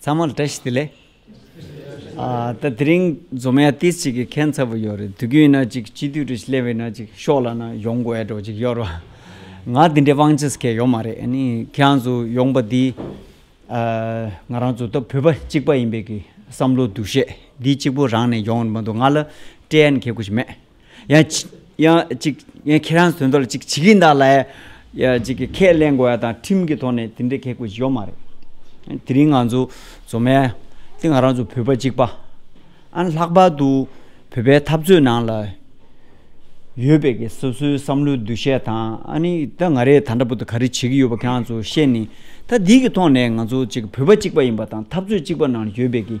ཚང་མ་ལ་བཀྲ་ཤིས་བདེ་ལེགས། ད་དེ་རིང་འཛོམས་ཡ་ཏི་ཅིག་གི་ཁན་ཚ་བོ་ཡོད་རེད་དུས་རྒྱུན་ཡིན་ན་ཅིག་སྤྱི་འཐུས་ཀྲིས་ལེ་བྷེ་ན་ཅིག་ཤོག་ལ་ན་ཡོང་དགོས་ཡ་འགྲོ་ཅིག་ཡོད་རོ། ང་དེ་འདྲའི་དབང་ཆ་ས་ཁས་ཡོད་མ་རེད་ནི་ཁྱེད་རང་ཚོ་ཡོང་པ་འདི། ང་རང་ཚོ་ད་བོད་པ་གཅིག་པ་ཡིན་པའི་གི་བསམ་བློ་འདུ་ཤེས་འདི་གཅིག་པོ་རང་ནས་ཡོང་མི་འདུག་ང་ལ་བཀྲེན་ཡན་གེ་དགོས་ཀྱི་མེད། ཡང་ཁྱེད་རང་བཟོས་འདུག་ལ་ཅིག་བྱེད་ཀྱིན་གདའ་ལ། ཅིག་གིས་ཁས་ལེན་དགོས་ཡ་དང་ཁྲིམས་ཀྱི་ཐོག་ནས་དེ་འདྲའི་གེགས་བྱེད་ཡོག་མ་རེད། དེ་རིང་ང་ཚོ་ཟོ་མལ་དེ་ང་རང་ཚོ་བོད་པ་གཅིག་པ། ཨང་ལྷག་པར་དུ་བོད་པའི་འཐབ་རྩོད་ནང་ལ་ཡོད་པའི་གེ་སོ་སོའི་བསམ་བློའི་འདུ་ཤེས་དང་ཨ་ནི་ད་ང་རེ་ད་འདྲ་པོ་ཏི་ག་རེ་བྱེད་ཀྱི་ཡོད་པ་ཁྱེད་རང་ཚོ་ཤེས་ནི་ད་འདི་གི་ཐོག་ནས་ང་ཚོ་ཅིག་བོད་པ་གཅིག་པ་ཡིན་པ་དང་འཐབ་རྩོད་གཅིག་པ་ནང་ཡོད་པའི་གེ།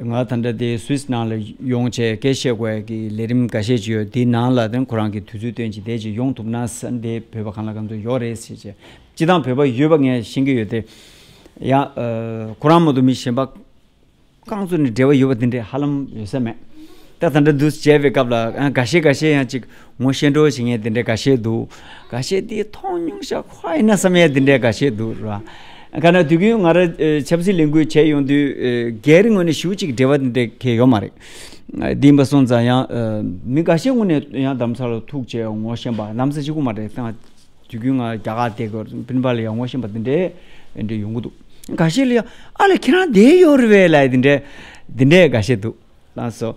ང་ད་ལྟ་དེ Swiss ནང་ལ་ཡོང་ཆེད་སྐད་བཤད་དགོས་ཀྱི་ལས་རིམ་འགའ་ཤས་ཅི་ཡོད་དེ་ནང་ལ་དེ་ཁོ་རང་གི་དུས་ཚོད་སྟོན་ཅིག་དེ་ཅིག་ཡོང་ཐུབ་ན་ས་འདི་བོད་པ་གང་ལ་གང་ཚོད་ཡོད་རེད་ཟེར་ཆེད་སྤྱི་བཏང་བོད་པ་ཡོད་པ་ངས་ཤེས་ཀྱི་ཡོད་དེ། ཡང་ཁོ་རང་མོ་དུ་མི་གཞན་པ་གང་ཚོད་ནས་འབྲེལ་བ་ཡོད་པ་དེ་འདྲས་ཧ་ལམ་ཡོད་ས་མེད། ད་ད་ལྟ་འདུ་བྱས་པའི་སྐབས་ལ་ཡང་འགའ་ཤས་འགའ་ཤས་ཡང་ཅིག་ངོ་ཤེས་འགྲོ་བྱེད་ངའི་དེ་འདྲའི་དགའ་ཤས་འདུག་ག་ཤས་དེ་མཐོང་མྱོང་ཤ་ཁ་ཡིན་ན་བསམ་ཡས་དེ་འདྲའི་དགའ་ཤས་འདུག་རེད་བ། ག་ན་དུས་རྒྱུན་ང་རང་ཆབ་སྲིད་ལས་འགུལ་བྱས་ཡོང་དུས་སྒེར་ངོས་ནས་ཞུ་གཅིག་འབྲེལ་བ་དེ་འདྲའི་གལ་ཡོད་མ་རེད། དེ་འབའ་སོང་ཙང་ཡང་མི་འགའ་ཤས་ངོ་ནས་ཡང་དམ་ཚག་ལ་ཐུག་བྱས་ངོ་ཤེས་པ་གནམ་ས་ཅི་གུ་མ་རེད་ད་དུས་རྒྱུན་ང་རྒྱ་གར་དེ་གོ་ཕིན་པ་ལ་ཡང་ངོ་ཤེས་པ་དེ་འདྲའི་དེ་འདྲའི་ཡོང་གི་འདུག་ག་ཤས་ལ་ཡང་ཨ་ལ་ཁྱེད་རང་བསྡད་ཡོད་རེད་བས་ལ་ཡི་དེ་འདྲའི་དེ་འདྲའི་དགའ་ཤས་འདུག་ལགས་སོ།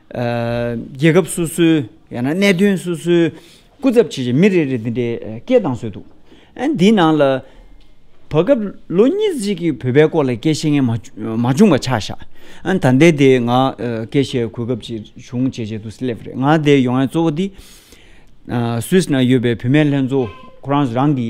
རྒྱལ་ཁབ་སོ་སོའི་ཡང་ན་གནད་དོན་སོ་སོའི་སྐུ་ཚབ་བྱས་རྗེས་མི་རེ་རེར་འདི་འདྲའི་སྐད་གདངས་བཟོས་འདུག་འདིའི་ནང་ལ། བར་སྐབས་ལོ་གཉིས་གཅིག་གི་བོད་པའི་སྐོར་ལ་སྐད་བཤད་མཁན་མ་བྱུང་བ་ཆགས་བཞག་ད་ལྟའི་དེ་ང་སྐད་བཤད་གོ་སྐབས་ཅིག་བྱུང་བྱས་རྗེས་དུ་སླེབས་རེད་ང་འདིར་ཡོང་ཡ་གཙོ་བོ་འདི། Swiss ན་ཡོད་པའི་བུད་མེད་ལྷན་ཚོགས་ཁོ་རང་རང་གི་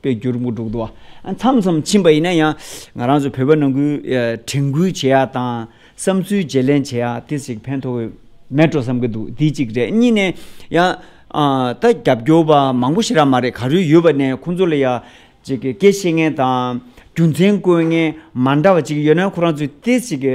པའི་འགྱུར་མགོ་འགྲོ་གི་འདུག་ཨ་མཚམས་མཚམས་ཕྱིན་པ་ཡིན་ན་ཡང་ང་རང་ཚོ་བོད་པ་ནང་ཁུལ་དྲན་སྐུལ་བྱེད་ཡ་དང་བསམ་ཚུལ་བརྗེ་ལེན་བྱེད་ཡ་དེ་ཞིག་ཕན་ཐོག་གི་མེད་འགྲོ་བསམ་གི་འདུག་འདི་གཅིག་རེད་གཉིས་ནས་ཡང་ད་རྒྱབ་སྐྱོར་བ་མང་པོ་ཞིག་རག་མ་རེད་ག་རེ་ཡོད་པ་ནས་ཁོང་ཚོ་ལ་ཡང་ཅིག་གི་སྐད་བཤད་མཁན་དང་རྒྱུ་མཚན་བཀོད་མཁན་མ་འདྲ་བ་ཅིག་ཡོད་ན་ཁོ་རང་ཚོས་དེ་ཞིག་གི་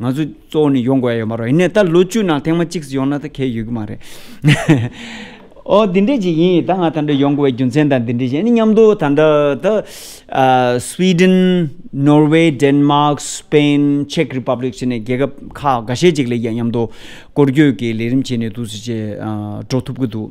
ང་ཚོ་གཙོ་བོ་ནི་ཡོང་དགོས་ཡ་ཡོད་མ་རོགས་ཡིན་ནས་ད་ལོ་བཅུ་ནང་ཐེངས་མ་གཅིག་སུ་ཡོང་ན་ད་གས་ཡོད་ཀྱི་མ་རེད། ཨོ་འདི་འདྲས་ཅིག་ཡིན་ད་ང་ད་འདྲ་ཡོང་དགོས་པའི་རྒྱུ་མཚན་ད་འདི་འདྲས་ཅིག་ཡིན་ནི་མཉམ་དུ་ད་འདྲ་ད། Sweden Norway Denmark Spain Czech Republic བྱས་ནས་རྒྱལ་ཁབ་ཁག་འགའ་ཤས་ཅིག་ལ་མཉམ་དུ་སྐོར་སྐྱོད་ཀྱི་ལས་རིམ་བྱས་ནས་འདུག་སེ་བྱས་འགྲོ་ཐུབ་ཀྱི་འདུག།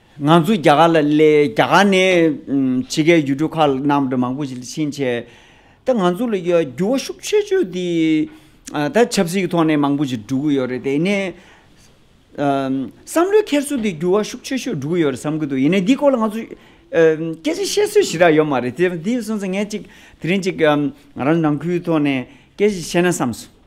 ང་ཚོ་རྒྱ་གར་ལ་སླེབས་རྒྱ་གར་ནས་ཕྱི་རྒྱལ་ཡུལ་གྲུ་ཁག་ནང་དུ་མང་པོ་ཞིག་ལ་ཕྱིན་ཆེད། ད་ང་ཚོ་ལ་འགྱུར་བ་ཤུགས་ཆེ་ཆེ་དེ་ད་ཆབ་སྲིད་ཀྱི་ཐོག་ནས་མང་པོ་ཞིག་འགྲོ་གི་ཡོད་རེད་དེ་ནས། བསམ་བློའི་འཁྱེར་སོ་དེ་འགྱུར་བ་ཤུགས་ཆེ་ཆེ་འགྲོ་གི་ཡོད་རེད་བསམ་གྱི་འདུག་ཡིན་ནས་འདིའི་སྐོར་ལ་ང་ཚོ་སྐད་ཆ་བཤད་སྲོལ་ཞིག་རག་ཡོད་མ་རེད་དེ་སོང་ཙང་ངས་ཅིག་དེ་རིང་ཅིག་ང་རང་ནང་ཁུལ་ཐོག་ནས་སྐད་ཅིག་བཤད་ན་བསམ་སོང།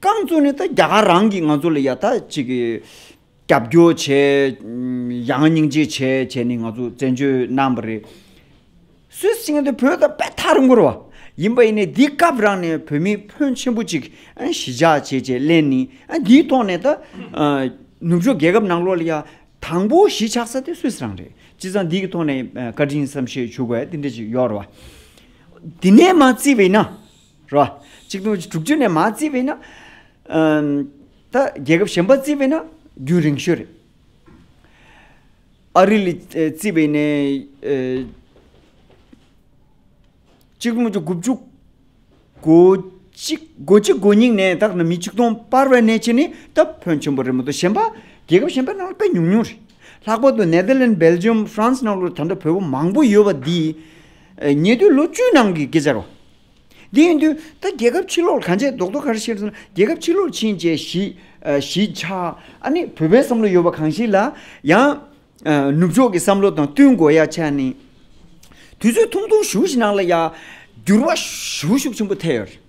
རྐང་བཙུགས་ནས་ད་རྒྱ་གར་རང་གིས་ང་ཚོ་ལ་ཡ་ད་ཅིག་རྒྱབ་སྐྱོར་བྱས། ཡ་ང་སྙིང་རྗེ་བྱས་བྱས་ནས་ང་ཚོ་བཙན་བྱོལ་གནང་བ་རེད། སུད་སི་ཆིངས་དེ་བོད་དང་དཔེ་ཐག་རིང་པོར་བ། ཡིན་པ་ཡིན་ནས་འདི་སྐབས་རང་ནས་བོད་མི་ཕོན་ཆེན་པོ་ཅིག་ཞི་འཇགས་བྱེད་ཅེས་གླན་ནི་འདིའི་ཐོག་ནས་ད། ནུབ་ཕྱོགས་རྒྱལ་ཁབ་ནང་ལོགས་ལ་ཡ་དང་པོ་གཞིས་ཆགས་ས་དེ་སུད་སི་རང་རེད། ཅི་ཙང་འདིའི་ཐོག་ནས་བཀའ་དྲིན་བསམ་ཤེས་བྱུགས་པ་ཡ་དེ་འདྲ་ཅིག་ཡོད་རེད་བ། དེ་ནས་མ་རྩིས་པ་ཡིན་ན། རོ། གཅིག་དུང་ཕྱུར་དྲུག་ཅུ་ནས་མ་བརྩིས་པས་ན། ད་རྒྱལ་ཁབ་གཞན་པ་བརྩིས་པས་ན་རྒྱུན་རིང་ཤོས་རེད། ཨ་རི་ལས་བརྩིས་པས་ནས། གཅིག་དུང་ཕྱུར་དགུ་བཅུ། གོ་གཅིག་གོ་གཅིག་གོ་གཉིས་ནས་ད་མི་གཅིག་སྟོང་སྤར་བའི་གནས་ཆེན་ནི་ད་ཕོན་ཆེན་པོ་རེད་མ་གཏོགས་གཞན་པ། རྒྱལ་ཁབ་གཞན་པ་ནང་དཔེ་ཉུང་ཉུང་རེད། ལྷག་པར་དུ་ནེ་ལྡི་ལན་སྦེལ་ཇེམ་ཧྥ་རན་སི་ནང་ལོ་ད་འདྲ་བོད་པོ་མང་པོ་ཡོད་པ་འདིས། ཉེ་དུས་ལོ་བཅུའི་ནང་གི་སྐད་ཆ་རོ། དེ་ཡིན་དུས་ད་རྒྱལ་ཁབ་ཕྱི་ལོག་གང་བྱས་རྡོག་རྡོག་གར་ཤེས་སོང་ན་རྒྱལ་ཁབ་ཕྱི་ལོག་ཕྱིན་བཅས་གཞིས་ཆགས་ཨ་ནི་བོད་པའི་བསམ་བློ་ཡོད་པ་གང་ཞིག་ལ་ཡང་ནུབ་ཕྱོགས་ཀྱི་བསམ་བློ་དང་བསྟུན་དགོས་ཡ་ཆ་ནི། དུས་ཚོད་ཐུང་ཐུང་བཞུགས་ཤིག་ནང་ལ་ཡ་འགྱུར་བ་ཞུ་ཤུགས་ཆེན་པོ་ཐེབས་ཡོད་རེད།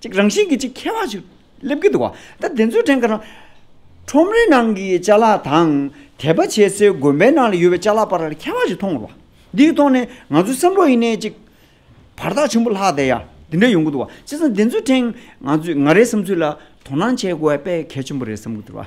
ཅིག་རང་བཞིན་གྱིས་ཅིག་ཁྱད་བར་ཅིག་སླེབས་ཀྱི་འདུག་བ་ད་དེ་ཚོའི་དྲན་ག་ན། ཁྲོམ་རའི་ནང་གི་བཅའ་ལག་དང་དད་པ་བྱེད་སའི་དགོན་པའི་ནང་ལ་ཡོད་པའི་བཅའ་ལག་བར་ལ་ཁྱད་བར་ཅིག་མཐོང་ངོ། འདིའི་ཐོག་ནས་ང་ཚོའི་བསམ་བློ་ཡེ་ནས་ཅིག་བར་ཐག་ཆེན་པོ་ལྷག་བསྡད་ཡ་འདི་འདྲ་ཡོང་གི་འདུག་བ་ཅེ་སང་དེ་ཚོའི་ཕྲེང་ང་ཚོས་ང་རའི་བསམ་ཚུལ་ལ་དོ་སྣང་བྱས་དགོས་པའི་དཔེ་གལ་ཆེན་པོ་རེད་བསམ་གི་འདུག་བ།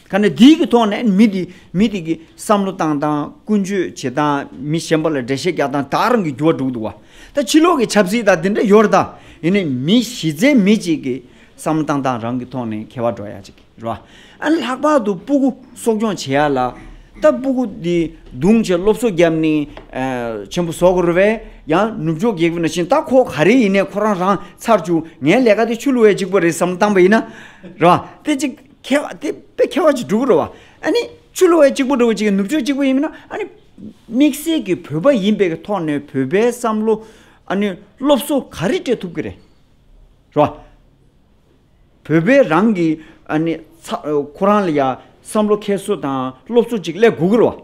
ཁ་ནས་དེའི་གི་ཐོག་ནས་མི་དེ་མི་དེ་གི་བསམ་བློ་བཏང་སྟངས་ཀུན་སྤྱོད་བྱེད་སྟངས་མི་གཞན་པ་ལ་འགྲེལ་བཤད་རྒྱག་སྟངས་དག་རང་གི་འགྱུར་བ་འགྲོ་གི་འདུག་བ། ད་ཕྱི་ལོག་གི་ཆབ་སྲིད་དང་དེ་འདྲ་ཡོད་རེད་ད། ཡིན་ནའི་མི་གཞི་རྩའི་མི་གཅིག་གི་བསམ་བློ་བཏང་སྟངས་རང་གི་ཐོག་ནས་ཁེ་བ་འགྲོ་ཡག་ཅིག་རེད་བ། ཨ་ནི་ལྷག་པར་དུ་སྤུ་གུ་གསོ་སྐྱོང་བྱེད་ཡག་ལ། ད་སྤུ་གུ་དེ་རྡུང་བྱས་སློབ་གསོ་བརྒྱབ་ནས་ཆེན་པོ་བཟོ་དགོས་རེད་བས། ཡང་ནུབ་ཕྱོགས་རྒྱལ་ཁབ་ན་བཞིན་ད་ཁོ་ག་རེ་ཡིན་ནའི་ཁོ་རང་རང་ཚར་བཅུག་ངའི་ལས་ཀ་དེ་ཆུ་ལུ་བས་གཅིག་པོ་རེད་བསམ་བློ་བཏང་བ་ཡིན་ན། རེད་བ། དེ་གཅིག་ཁ་བ་དེ་དཔེ་ཁ་བ་གཅིག་འགྲོ་གི་རེད་བ། ཨཱ་ནི་ཆུ་ལོའི་གཅིག་པུ་འགྲོ་གི་གཅིག་ནུབ་ཕྱོགས་གཅིག་པུ་ཡིན་མིན་ན་ཨཱ་ནི། དམིགས་བསལ་གྱི་བོད་པ་ཡིན་པའི་ཐོག་ནས་བོད་པའི་བསམ་བློ་ཨཱ་ནི་སློབ་གསོ་ག་རེ་སྤྲད་ཐུབ་ཀྱི་རེད། རེད་བ། བོད་པའི་རང་གི་ཨཱ་ནི་ཁོ་རང་ལ་ཡང་བསམ་བློ་ཁྱད་གསོད་དང་སློབ་གསོ་གཅིག་སླེབས་དགོས་ཀྱི་རེད་བ།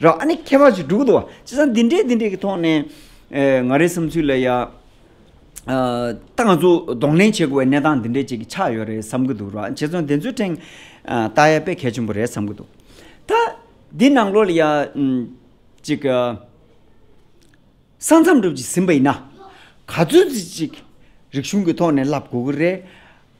ར་ཨ་ནི་ཁྱད་པར་གྱི་དྲུག་ཏུའོ། ཅི་སང་འདི་འདྲའི་འདི་འདྲའི་གི་ཐོག་ནས། ང་རའི་བསམ་ཚུལ་ལ་ཡ། ད་ང་ཚོ་གདོང་ལེན་བྱེད་དགོས་བའི་གནས་སྟངས་འདི་འདྲའི་ཅིག་གི་ཆགས་ཡོད་རེད་བསམ་གི་འདུག་ར་ཨ་རྗེ་བཙུན་དེ་ཚོའི་ཕྲེང། ཏཱ་ཡ་པས་གལ་ཆེན་པོ་རེད་བསམ་གི་འདུག། ད། འདི་ནང་ལོ་ལ་ཡ། ཅིག། ས་མཚམས་འགྲུབ་ཅིག་ཟིན་པ་ཡིན་ན། ག་ཚོད་ཅིག། རིག་གཞུང་གི་ཐོག་ནས་ལབ་དགོས་ཀི་རེད།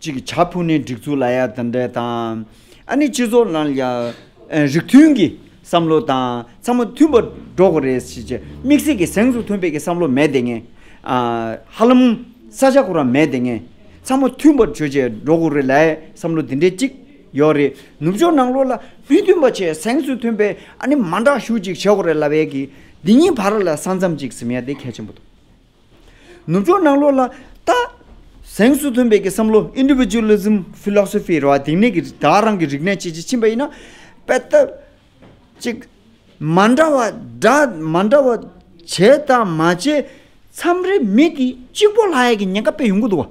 ཅིག་བྱ་ཕུགས་ནས་སྒྲིག་འཛུགས་ལ་ཡ་ད་འདྲེ་དང། ཨ་ནི་སྤྱི་ཚོགས་ནང་ཡ། རིགས་མཐུན་གྱི་བསམ་བློ་དང་ཚང་མ་མཐུན་པར་འགྲོ་དགོས་རེད་ཞེས་བྱས། དམིགས་བསལ་གྱི་གཟེངས་སུ་ཐོན་དཔེ་གྱི་བསམ་བློ་མེད་དེ་ངེས། ཧ་ལམ། ས་ཆ་ཁོ་རང་མེད་དེ་ངེས། ཚང་མ་མཐུན་པར་བྱོས་བྱས་འགྲོ་དགོས་རེད་ལའི་བསམ་བློ་དེ་འདྲེ་ཅིག་ཡོད་རེད། ནུབ་ཕྱོགས་ནང་ལོག་ལ་མི་མཐུན་པ་བྱས་གཟེངས་སུ་ཐོན་དཔེ་ཨ་ནི་མ་འདྲ་ཞུ་ཅིག་བྱས་དགོས་རེད་ལ་བས་ཀྱི། འདི་གཉིས་བར་ལ་ས་མཚམས་ཅིག་ཟིམ་ཡ་དེ་གལ་ཆེན་པོ་འདུག། ནུབ་ཕྱོགས་ནང་ལོགས་ལ་ལྟ། གཟེངས་སུ་ཐོན་པའི་བསམ་བློ Individualism Philosophy ར་བ་དེང་ནས་ཀྱི་བདག་རང་གི་རིག་གནས་བྱེད་ཀྱི་ཕྱིན་པ་ཡིན་ན། དཔེ་ལྟ། གཅིག། མ་འདྲ་བ་འདྲ་མ་འདྲ་བ་བྱས་དང་མ་བྱས་མཚམས་རེ་མི་དེ་གཅིག་པོ་ལ་ཡ་གི་ཉེན་ཁ་སྤེལ་ཡོང་གི་འདུག་བ།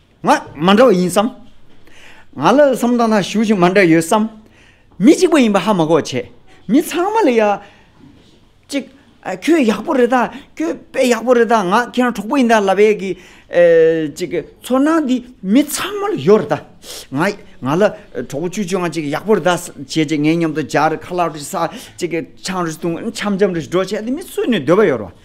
ང་མ་འདྲ་བ་ཡིན་བསམ། ང་ལ་སོམས་དང་ཐང་ཞུགས་ཤིག་མ་འདྲ་ཡོད་བསམ། མི་གཅིག་པ་ཡིན་པ་ཧ་མ་གོ་བྱས། མི་ཚང་མ་ལ་ཡ། ཅིག། ཁྱོད་ཡག་པོ་རེད་ད། ཁྱོད་དཔེ་ཡག་པོ་རེད་ད་ང་ཁྱེད་རང་གྲོགས་པོ་ཡིན་ད་ལབ་ཡས་གི། ཅིག། ཚོར་སྣང་འདི་མི་ཚང་མ་ལ་ཡོད་རེད་ད། ང། ང་ལ་གྲོགས་པོ་ཅུ་ཅུ་ང་ཅིག་ཡག་པོ་རེད་ད་བྱས་རྗེས་ངའི་མཉམ་དུ་སྦྱར་ཁ་ལག་རེ་ས་ཅིག་ཆང་རེ་བཏུང་འཆམ་འཆམ་རེ་འགྲོ་བྱས་ཏེ་མི་སུས་ནས་སྡོད་པ་ཡོད་རེད་བ།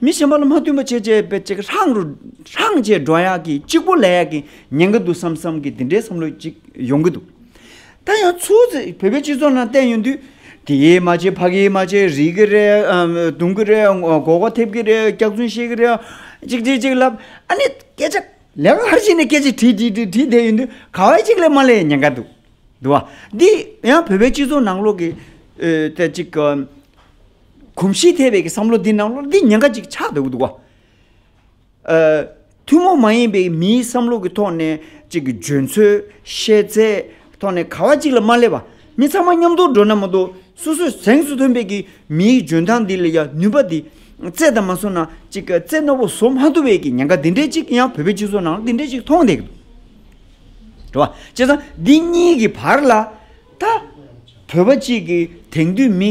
མི་ཞན་པ་ལ་མ་བསྟུན་པ་བྱེད་ཅེས་པའི་ཅིག་ཧྲང་རུ་ཧྲང་ཅེས་འགྲོ་ཡག་གི་གཅིག་པོ་ལས་ཡག་གི་ཉན་གི་འདུག་བསམ་བསམ་གི་འདི་འདྲའི་བསམ་བློ་ཅིག་ཡོང་གི་འདུག་ད་ཡང་ཚུར་ཚེ་བོད་པའི་སྤྱི་ཚོགས་ནང་བསྟན་ཡོང་དུས་དེ་ཡིས་མ་བྱས་ཕ་གིས་མ་བྱས་རིག་གི་རེད་རྡུང་གི་རེད་མགོ་བོ་ཐེབས་ཀྱི་རེད་སྐྱག་རྫུན་བཤད་ཀྱི་རེད་ཅིག་ཅིག་ཅིག་ལབ་ཨ་ནི་སྐད་ཆ་ལེ་ལར་བྱས་ནས་སྐད་ཆ་དྲིས་དྲིས་དྲིས་དྲིས་བསྡད་ཡོང་དུས་ག་བའི་ཅིག་ལས་མ་ལས་ཉན་ག་འདུག་འདུག་བ་འདི་ཡང་བོད་པའི་སྤྱི་ཚོགས་ནང་ལོག་གི་ཅིག་གོམས་གཤིས་ཐེབས་པའི་བསམ་བློ་འདི་ནང་བློར་འདི་ཉེན་ཁ་གཅིག་ཆགས་འདུག་འདུག་གོ། ཐུན་མོང་མ་ཡིན་པའི་མིའི་བསམ་བློ་གི་ཐོག་ནས་གཅིག་གི་འཇོན་ཚོད། ཤེས་ཚད། ཐོག་ནས་ག་བ་གཅིག་ལ་མ་སླེབས་པ། མི་ཚང་མ་མཉམ་དུ་འགྲོ་ན་མ་གཏོགས་སོ་སོས་གཟེངས་སུ་ཐོན་པའི་གི་མིའི་འཇོན་ཐང་འདི་ལ་ཡང་ནུས་པ་འདི་རྩད་དང་མ་བཟུང་ན་གཅིག་གི་རྩེ་རྣ་བོ་བཟོ་མ་ཐུབ་པའི་གི་ཉེན་ཁ་འདི་འདྲའི་གཅིག་ཡང་བོད་པའི་སྤྱི་ཚོགས་ནང་འདི་འདྲའི་གཅིག་མཐོང་བསྡད་འདུག་འགྲོ་བ། བྱས་ཙང་འདི་གཉིས་ཀྱི་བར་ལ་ད་བོད་པ་གཅིག་གི་དེང་དུས་མི།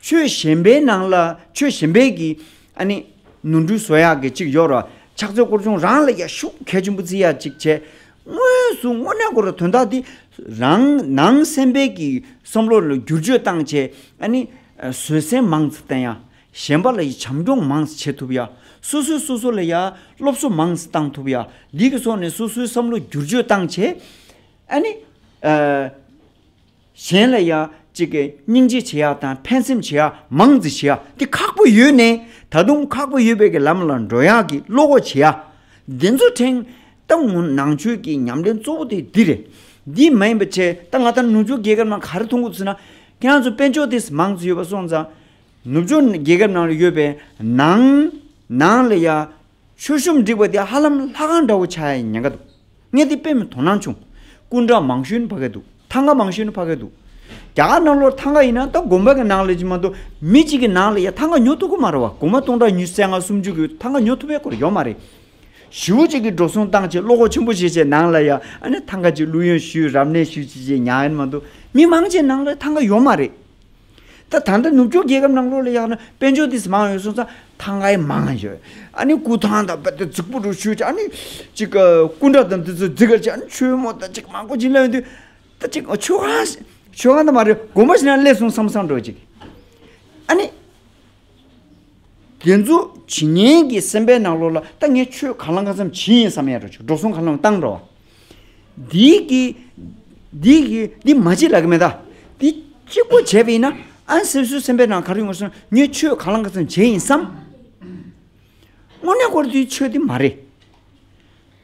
ཆོས་གཞན་པའི་ནང་ལ་ཆོས་གཞན་པའི་གི། ཨ་ནི། ནུ་འབྲུ་བཟོ་ཡག་གི་ཅིག་ཡོར། ཕྱག་མཛོད་སྐོར་ཆུང་རང་ལ་ཡ་ཤུག་གལ་ཆེན་པོ་རྩི་ཡག་ཅིག་བྱས། དངོས་སུ་དངོས་གནས་སྐོར་དོན་དག་འདི། རང་ནང་སེམས་པའི་གི་བསམ་བློ་ལ་བསྒྱུར་བཅོས་བཏང་བྱས། ཨ་ནི། བཟོད་སྲན་མང་ཙི་བསྟན་ཡ། གཞན་པ་ལ་ཡི་བྱམས་སྐྱོང་མང་ཙི་བྱེད་ཐུབ་ཡ། སོ་སོས་སོ་སོ་ལ་ཡ། སློབ་གསོ་མང་ཙི་བཏང་ཐུབ་ཡ། འདི་གི་སོགས་ནས་སོ་སོའི་བསམ་བློ་བསྒྱུར་བཅོས་བཏང་བྱས། ཨ་ནི། གཞན་ལ་ཡང་གཅིག་གིས་སྙིང་རྗེ་བྱེད་ཡ་དང་ཕན་སེམས་བྱེད་ཡ་མང་བརྩི་བྱེད་ཡ་དེ་ཁག་པོ་ཡོད་ནས་ད་དུང་ཁག་པོ་ཡོད་པའི་གི་ལམ་ལ་འགྲོ་ཡག་གི་བློ་སྒོ་འབྱེད་ཡ། འདི་ཚོ་ཕྲན་ཏང་ངུ་ནང་ཆོས་ཀྱི་ཉམས་ལེན་གཙོ་བོ་དེ་འདི་རེད། འདི་མ་ཡིན་པ་ཆད་ད་ང་ད་ནུབ་ཕྱོགས་རྒྱལ་ཁབ་ནང་ག་རེ་མཐོང་གི་ཚུལ་ན་ཁྱེད་རང་ཚོ་དཔེ་འཇོག་དེ་མང་བརྩི་ཡོད་པ་སོང་ཙང་ནུབ་ཕྱོགས་རྒྱལ་ཁབ་ནང་ལ་ཡོད་པའི་ནང་ནང་ལ་ཡང་མཆོད་ཤོམ་བསྒྲིགས་པ་དེ་ཧ་ལམ་ལྷ་ཁང་འདྲ་བོ་ཆགས་ཡ་ཉེན་ཁ་འདུག་ངས་དེ་དཔེ་མི་དོ་སྣང་བྱུང། སྐུ་འདྲ་མང་ཤོས་ནི་ཕ་གི་འདུག་ཐང་ག་མང་ཤོས་ནི་ཕ་གི་འདུག། རྒྱ་གར་ནང་ལོར་ཐང་ག་ཡིན་ན་ད་དགོན་པ་གི་ནང་ལས་ཅི་མ་གཏོགས་མི་གཅིག་གི་ནང་ལ་ཡ་ཐང་ག་ཉོ་ཐུབ་གི་མ་རེད་བ་དགོན་པ་སྟོང་ཕྲག་ཉུས་བརྩེགས་ང་སུམ་ཅུ་གི་ཐང་ག་ཉོ་ཐུབ་པའི་སྐོར་ཡོད་མ་རེད། བཞི་བོ་གཅིག་གི་འགྲོ་སོང་སྟངས་ཆེད་བློ་ཁོག་ཆེན་པོ་བྱེད་ཆེད་ནང་ལ་ཡ་ཨ་ནི་ཐང་ག་གཅིག་བླུགས་ཡོང་ཞུས་རབ་གནས་ཞུས་བྱེད་ཆེད་ཉག་ཡ་ནི་མ་འདུག་མི་མང་ཆེ་ནང་ལ་ཐང་ག་ཡོད་མ་རེད། ད་ད་ལྟ་ནུབ་ཕྱོགས་རྒྱལ་ཁབ་ནང་ལོགས་ལ་ཡག་ན་དཔལ་འབྱོར་དེ་མང་ཡོད་སོང་ཙང་ཐང་ག་ཡི་མང་ཡོད། ཨ་ནི་སྐུ་ཐང་དང་བ་དེ་རྫིག་པོ་རུ་ཆུ་ཅིག་ཨ་ནི་ཅིག་ག་སྐུ་འདྲ་དང་དེ་ཚོ་རྫིག་ག་ཅིག་ཨ་ནི་ཆུ་མོ་དང་ཅིག་མང་པོ་ཅིག་སླེབས་འདུག་ད་ཅིག་ཆུ་ཁང་ཆུ་ཁང་དུ་མ་རེད་དགོན་པ་ཞིག་ན་སླེབས་སོང་བསམ་བསམ་འགྲོ་ཅིག་ཨ་ནི། དེ་ཚོ་ཇི་སྙེད་ཀྱི་སེམས་པའི་ནང་ལོགས་ལ་ད་ངས་ཆོས་གང་བླང་གང་བསམ་ཇི་ཡིན་བསམ་ཡ་འགྲོ་ཆུག་འགྲོ་སོང་གང་བླང་བཏང་འགྲོ། འདི་གི་འདི་གི་འདི་མ་བྱེད་ལ་གི་མེད་ད། འདི་གཅིག་པོ་བྱས་པ་ཡིན་ན་ཨང་སེམས་སུ་སེམས་པའི་ནང་ག་རེ་ཡོང་བ་སོང་ངས་ཆོས་གང་བླང་གང་བསམ་ཇི་ཡིན་བསམ། དངོས་གནས་སྐོར་དེ་ཆོས་དེ་མ་རེད།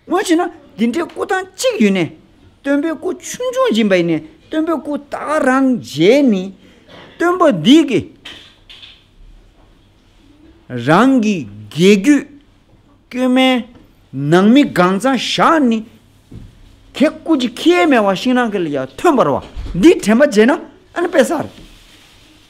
སྔོན་ཆད་ན་འདི་འདྲའི་སྐུ་ཐང་གཅིག་ཡོད་ནས། སྟོན་པའི་སྐུ་ཆུང་ཆུང་སྦྱིན་པ་ཡིན་ནས་སྟོན་པའི་སྐུ་དག་རང་མཇལ་ནི། སྟོན་པ་འདི་གིས་རང་གི་དགེ་རྒྱུད་སྐྱོན་མའི་ནང་མི་གང་ཚང་བཞག་ནི། དེ་སྐུ་ཅི་ཁྱེད་མེད་བ་ཤིང་ནགས་ཀྱི་ལ་ཡ་ཐོན་པར་བ་འདིས་དྲན་པ་བརྗེད་ན་ཨ་ནི་དཔེ་ཟ་རེད།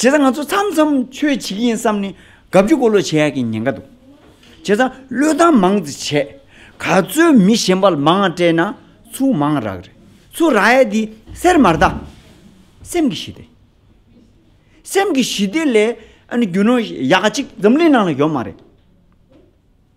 བྱས་ཙང་ང་ཚོ་མཚམས་མཚམས་ཆོས་བྱེད་ཀྱི་ཡིན་བསམ་ནས་དགའ་བསུ་འཁོར་ལོ་བྱེད་ཡག་གི་ཉེན་ཁ་འདུག་བྱས་ཙང་བློས་བཏང་མང་ཙི་བྱས་ག་ཚོད་མི་གཞན་པ་ལ་མང་ང་སྤྲད་ན་ཚུར་མང་རག་རེད་ཚུར་རག་ཡས་དེ་སེར་མར་ད་སེམས་ཀྱི་ཞི་བདེ། སེམས་ཀྱི་ཞི་བདེ་ལས་ཨ་ནི་རྒྱུ་ནོར་ཡག་གཅིག་འཛམ་གླིང་ནང་ལ་ཡོད་མ་རེད།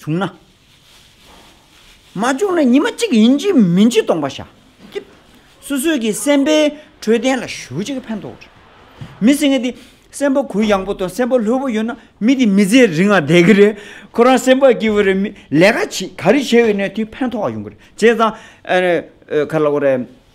བྱུང་ན། མ་བྱུང་ན་ཉི་མ་གཅིག་ཡིན་གཅིག་མིན་གཅིག་སྟོང་པ་བཞག་སྐྱིད། སོ་སོས་ཀྱི་སེམས་དཔའི་འཕྲོད་བསྟེན་ལ་ཞུགས་གཅིག་ཕན་ཐོགས་རེད། མི་སེང་གེ་དེ་སེམས་པ་གུ་ཡངས་པོ་དང་སེམས་པ་ལྷོད་པོ་ཡོད་ན་མི་དེ་མི་ཚེ་རིང་བ་བསྡད་ཀྱི་རེད། ཁོ་རང་སེམས་པ་སྐྱིད་པོ་རེད་མི་ལས་ཀ་ག་རེ་བྱས་ཡོད་ནའི་དུས་ཕན་ཐོགས་ཡོང་གི་རེད་བྱས་ཙང།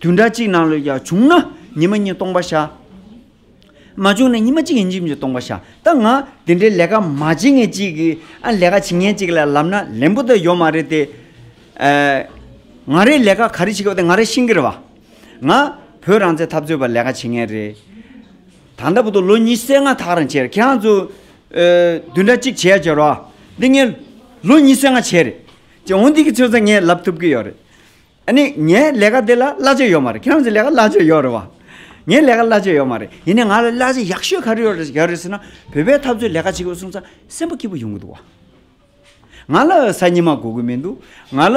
དུས་འདྲ་གཅིག་ནང་ལོས་ཀྱང་བྱུང་ན་ཉི་མ་གཉིས་སྟོང་པ་བྱ། མ་བྱུང་ན་ཉི་མ་གཅིག་ཡན་ཅིག་སྟོང་པ་བྱ། ད་ང་དེ་འདྲའི་ལས་ཀ་མ་བྱེད་ངེས་ཅིག་གི། ཨ་ལས་ཀ་བྱེད་ངེས་ཅིག་ལ་ལབ་ན་ལན་པོ་ད་ཡོད་མ་རེད་དེ། ང་རེ་ལས་ཀ་ག་རེ་བྱེད་ཀྱི་བ་དེ་ང་རེ་ཤིང་གི་རེད་བ། ང་བོད་རང་བཙན་འཐབ་རྩོད་པ་ལས་ཀ་བྱེད་ངེས་རེད། ད་ལྟ་བུ་དོ་ལོ་ཉིས་སེ་ང་ཐག་རང་བྱས་རེད་ཁྱེད་རང་ཚོ་དུས་འདྲ་གཅིག་བྱས་བྱས་རོགས་ཨ། འདི་ངས་ལོ་ཉིས་སེ་ང་བྱས་རེད། འོན་ཏེ་ཁྱེད་ཚོ་ངས་ལབ་ཐུབ་ཀྱི་ཡོད་རེད། ཨ་ནི་ངའི་ལས་ཀ་དེ་ལ་གླ་བྱེད་ཡོད་མ་རེད་ཁྱེད་རང་ཚོའི་ལས་ཀ་གླ་བྱེད་ཡོད་རེད་བ། ངའི་ལས་ཀ་གླ་བྱེད་ཡོད་མ་རེད་ཡིན་ནའི་ང་ལ་གླ་བྱེད་ཡག་ཤོས་ག་རེ་ཡོད་རེད་ཟེར་ན་བོད་པའི་འཐབ་རྩོད་ལས་ཀ་བྱེད་དགོས་གསུངས་ཚ་སེམས་པ་སྐྱིད་པོ་ཡོང་གི་འདུག་བ། ང་ལ་གཟའ་ཉི་མ་དགོས་གི་མི་འདུག་ང་ལ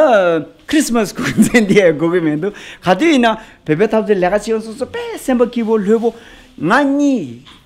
Christmas དགོས་གི་མཚན་དེ་དགོས་གི་མི་འདུག་ག་དུས་ཡིན་ན་བོད་པའི་འཐབ་རྩོད་ལས་ཀ་བྱེད་གསུངས་ཚ་དཔེ་སེམས་པ་སྐྱིད་པོ་ལྷོད་པོ་ང་གཉིས་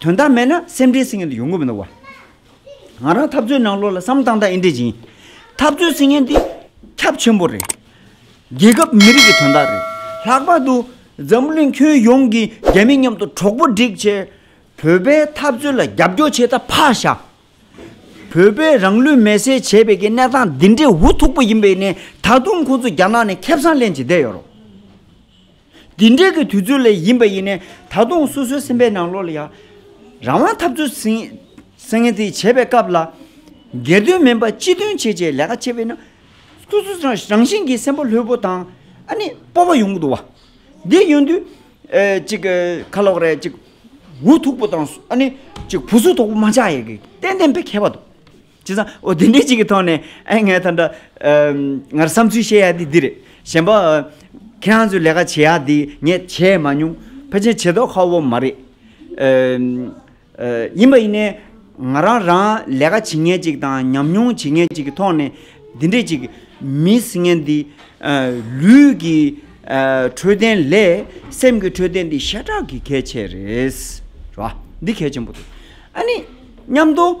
དོན་དག་མེད་ན་སེམས་ཁྲལ་སེམས་ངན་དུ་ཡོང་གི་མི་འདུག་བ། ང་རང་འཐབ་རྩོད་ནང་ལོགས་ལ་བསམ་བཏང་དང་ཨེ་འདྲེ་སྦྱིན། འཐབ་རྩོད་སེམས་ངན་འདི་ཁྱབ་ཆེན་པོ་རེད། རྒྱལ་ཁབ་མི་རིགས་ཀྱི་དོན་དག་རེད། ལྷག་པར་དུ་འཛམ་གླིང་ཁྱོན་ཡོངས་ཀྱི་རྒྱ་མི་མཉམ་དུ་གྲོགས་པོ་བསྒྲིག་ཆེད། བོད་པའི་འཐབ་རྩོད་ལ་རྒྱབ་སྐྱོར་བྱེད་ད་ཕག་ཤ། བོད་པས་རང་ལུས་མེ་སྲེག་བྱས་པའི་གི་གནས་སྟངས་འདི་འདྲའི་འུ་ཐུག་པོ་ཡིན་པའི་ནས་ད་དུང་ཁོང་ཚོ་རྒྱ་ནག་ནས་ཁེབས་སང་ལེན་བྱེད་བསྡད་ཡོད་རོགས། འདི་འདྲའི་གི་དུས་ཚོད་ལས་ཡིན་པ་ཡིན་ནས་ད་དུང་སོ་སོའི་སེམས་པའི་ནང་ལོག་ལ་ཡང། རང་དབང་འཐབ་རྩོད་སེང་གེ་དེ་བྱེད་པའི་སྐབས་ལ། སྒེར་དོན་མིན་པར་སྤྱི་དོན་བྱེད་ཅེས་ལས་ཀ་བྱེད་པས་ན། སོ་སོ་རང་བཞིན་གྱིས་སེམས་པ་ལྷོད་པོ་དང། ཨ་ནི་སྤོབས་པ་ཡོང་གི་འདུག་བ། འདི་ཡོང་དུས། ཅིག་ཁ་ལོག་རེད་ཅིག། འུ་ཐུག་པོ་དང་ཨ་ནི། ཅིག་བུ་གཟུགས་དོག་པོ་མ་ཆགས་ཡས་ཀྱི་ཏན་ཏན་པའི་མཁས་པ་འདུག། ཅི་བསམ། འོ་དེ་འདྲའི་ཅིག་གི་ཐོག་ནས་ཨེ་ངའི་ད་འདྲ། ངར་བསམ་ཚུལ་བཤད་ཡག་དེ་འདི་རེད། གཞན་པ། ཁྱེད་རང་ཚོས་ལས་ཀ་བྱེད་ཡག་འདི་ངས་བྱས་མ་མྱོང། ཕལ་ཆེན་བྱེད་དོགས་ཁ་བོ་མ་རེད། ཡིན་པ་ཡིན་ནའི། ང་རང་རང་ལས་ཀ་བྱེད་མཁན་ཅིག་དང་ཉམས་མྱོང་བྱེད་མཁན་ཅིག་གི་ཐོག་ནས། འདི་འདྲའི་ཅིག་མི་ངན་འདི། ལུས་ཀྱི་འཕྲོད་བསྟེན་ལས་སེམས་ཀྱི་འཕྲོད་བསྟེན་འདི་ཤ་ཁྲག་གི་གལ་ཆེ་རེད། འདི་གལ་ཆེན་པོ་རེད། ཨ་ནི། མཉམ་དུ།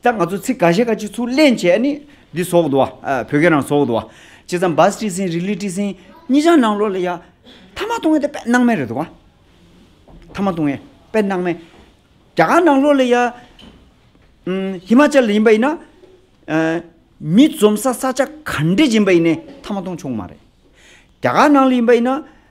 ད་ང་ཚོ་ཚིག་ག་ཤེས་ག་ཅིག་ཚུར་གླེང་བྱས་ནི། འདི་ཟོག་འདུག་བ། བོད་སྐད་རང་ཟོག་འདུག་བ། བྱས་ཙང་བཱ་སྤྲི་སིན་རི་ལི་སྤྲི་སིན། གཉིས་ཆ་ནང་ལོགས་ལ་ཡ། ཐ་མ་ཏུང་ཡེ་དེ་དཔེ་སྣང་མེད་རེད་འདུག་བ། ཐ་མ་ཏུང་ཡེ། དཔེ་སྣང་མེད། རྒྱ་གར་ནང་ལོགས་ལ་ཡ། ཧི་མ་ཅལ་ལ་ཡིན་པ་ཡིན་ན། མི་འཛོམས་ས་ས་ཆ་ག་འདྲས་ཡིན་པ་ཡིན་ནའི་ཐ་མ་ཏུང་ཆུང་མ་རེད། རྒྱ་གར་ནང་ལ་ཡིན་པ་ཡིན་ན།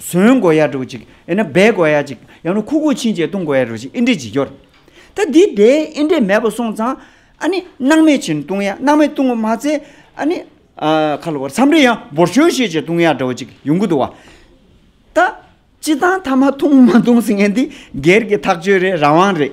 ཟོན་དགོས་ཡ་འགྲོ་ཅིག་ཡང་ན་སྦས་དགོས་ཡ་ཅིག་ཡང་ན་ཁུག་ཁུག་ཕྱིན་ཅད་བཏུང་དགོས་ཡ་འགྲོ་ཅིག་ཨི་འདྲའི་བྱེད་རྒྱུ་རེད། ད་འདི་དེ་ཨི་འདྲའི་མེད་པ་སོང་ཙང་ཨ་ནི་སྣང་མེད་བྱིན་བཏུང་ཡ་སྣང་མེད་བཏུང་བ་མ་ཚད་ཨ་ནི། ཁ་ལོ་བར་མཚམས་རེ་ཡང་འབོར་ཞོལ་ཤེས་བྱེད་བཏུང་ཡ་འགྲོ་ཅིག་ཡོང་གི་འདུག་བ། ད། སྤྱི་བཏང་ཐ་མ་འཐུང་མ་འཐུང་ཟེར་མཁན་འདི་སྒེར་གྱི་ཐག་གཅོད་རེད་རང་དབང་རེད།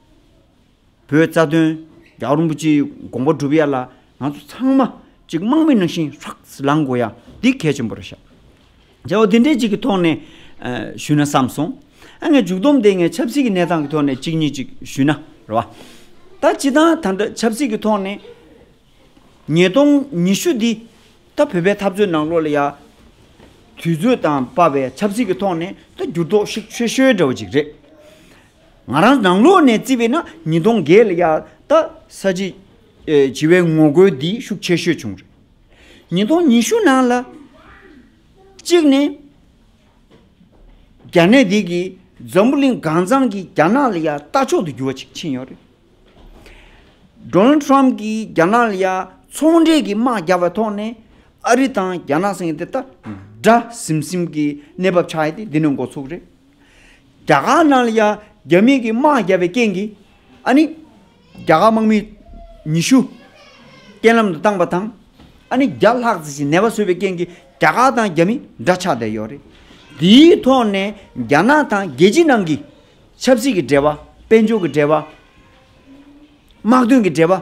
པོའི་རྩ་དོན། རྒྱ་གར་རིན་པོ་ཆེའི་དགོངས་པ་བསྒྲུབ་ཡ་ལ་ང་ཚོ་ཚང་མ་ཅིག་དམག་མི་ནང་བཞིན་ཧྲགས་ལངས་དགོས་ཡ་འདི་གལ་ཆེན་པོ་རེད་ཤག། བྱ་བ་འདི་འདྲའི་ཅིག་གི་ཐོག་ནས་ཞུས་ན་བསམ་སོང། ཨ་ངས་མཇུག་བསྡོམས་དེ་ངས་ཆབ་སྲིད་ཀྱི་གནས་སྟངས་ཀྱི་ཐོག་ནས་ཅིག་གཉིས་ཅིག་ཞུས་ན་རེད་བ། ད་སྤྱི་དང་ད་འདྲ་ཆབ་སྲིད་ཀྱི་ཐོག་ནས་ཉིས་སྟོང་ཉི་ཤུ་འདི་ད་བོད་པའི་འཐབ་རྩོད་ནང་ལོགས་ལ་ཡ། དུས་ཚོད་དང་དཔའ་བའི་ཆབ་སྲིད་ཀྱི་ཐོག་ནས་ད་འགྱུར་ལྡོག་ཤིག་ཆོས་ཤོས་འདྲ་བ་ཅིག་རེད། ང་རང་ནང་ལོགས་ནས་བརྩི་བས་ན་ཉིས་སྟོང་བརྒྱད་ལ་ཡར་ད་ས་བྱི་བྱི་བའི་ངོ་རྒོལ་འདི་ཤུགས་ཆེ་ཤོས་བྱུང་རེད། ཉིས་སྟོང་ཉི་ཤུ་ནང་ལ་གཅིག་ནས་རྒྱ་ནད་འདི་གིས་འཛམ་བུ་གླིང་གང་ཚང་གི་རྒྱ་ནག་ལ་ཡར་ལྟ་མཆོག་ཏུ་གྱུར་བ་ཞིག་ཕྱིན་ཡོད་རེད། Donald Trump གིས་རྒྱ་ནག་ལ་ཡར་ཚོང་འབྲེལ་གྱི་དམག་རྒྱག་པའི་ཐོག་ནས་ཨ་རི་དང་རྒྱ་ནག་སེང་གེ་དེ་ད་དགྲ་ཟིམ་ཟིམ་གྱི་གནས་བབ་ཆགས་ཡོད་དེ་འདི་ནི་འགོ་ཚུགས་རེད། རྒྱ་གར་ནང་ལ་ཡང་རྒྱ་མིང་གི་དམག་བརྒྱབ་པའི་རྐྱེན་གྱིས། ཨ་ནི། རྒྱ་གར་དམག་མི་ཉི་ཤུ། རྐྱེན་ལམ་དུ་བཏང་པ་དང། ཨ་ནི་བརྒྱ་ལྷག་ཙི་ཞིག་ནད་པ་བཟོས་པའི་རྐྱེན་གྱིས་རྒྱ་གར་དང་རྒྱ་མི་འདྲ་ཆགས་བསྡད་ཡོད་རེད། དེའི་ཐོག་ནས་རྒྱ་ནག་དང་རྒྱལ་སྤྱི་ནང་གི། ཆབ་སྲིད་ཀྱི་འབྲེལ་བ། དཔལ་འབྱོར་གྱི་འབྲེལ་བ། དམག་དོན་གྱི་འབྲེལ་བ།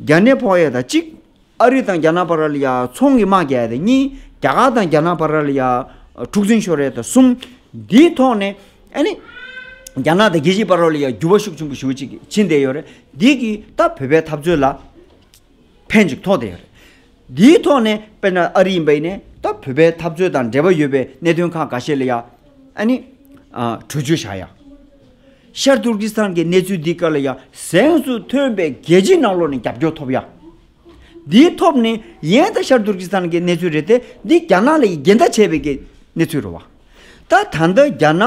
རྒྱ་ནད་ཕོག་ཡས་དང་གཅིག། ཨ་རི་དང་རྒྱ་ནག་བར་ལ་ཡ་ཚོང་གི་དམག་རྒྱག་ཡས་དང་གཉིས། རྒྱ་གར་དང་རྒྱ་ནག་བར་ལ་ཡ་འཁྲུག་འཛིང་ཤོར་ཡས་དང་གསུམ། འདིའི་ཐོག་ནས། རྒྱ་ནག་དང་རྒྱལ་སྤྱི་བར་ལ་ཡ་འགྱུར་བ་ཤུགས་ཆེན་པོ་ཞུ་ཅིག་ཕྱིན་བསྡད་ཡོད་རེད། འདི་གིས་ད་བོད་པའི་འཐབ་རྩོད་ལ། ཕན་ཅིག་ཐོགས་བསྡད་ཡོད་རེད། འདིའི་ཐོག་ནས་དཔེར་ན་ཨ་རི་ཡིན་པ་ཡིན་ནས་ད་བོད་པའི་འཐབ་རྩོད་དང་འབྲེལ་བ་ཡོད་པའི་གནད་དོན་ཁག་འགའ་ཤས་ལ་ཡ། གྲོས་ཆོད་བཞག་ཡ། ཤར་ཏུར་ཀི་སི་ཐན་གྱི་གནས་ཚུལ་འདིའི་སྐོར་ལ་ཡང་གཟེངས་སུ་ཐོན་པའི་རྒྱལ་སྤྱིའི་ནང་ལོགས་ནས་རྒྱབ་སྐྱོར་ཐོབ་ཡ། འདིའི་ཐོབ་ནི་ཡན་ད་ཤར་ཏུར་ཀི་སི་ཐན་གྱི་གནས་ཚུལ་རེད་དེ་འདི་རྒྱ་ནག་ལ་ཡི་གེ་འདའ་བྱས་པའི་གནས་ཚུལ་རེད་བ། ད་ད་ལྟ་རྒྱ་ནག་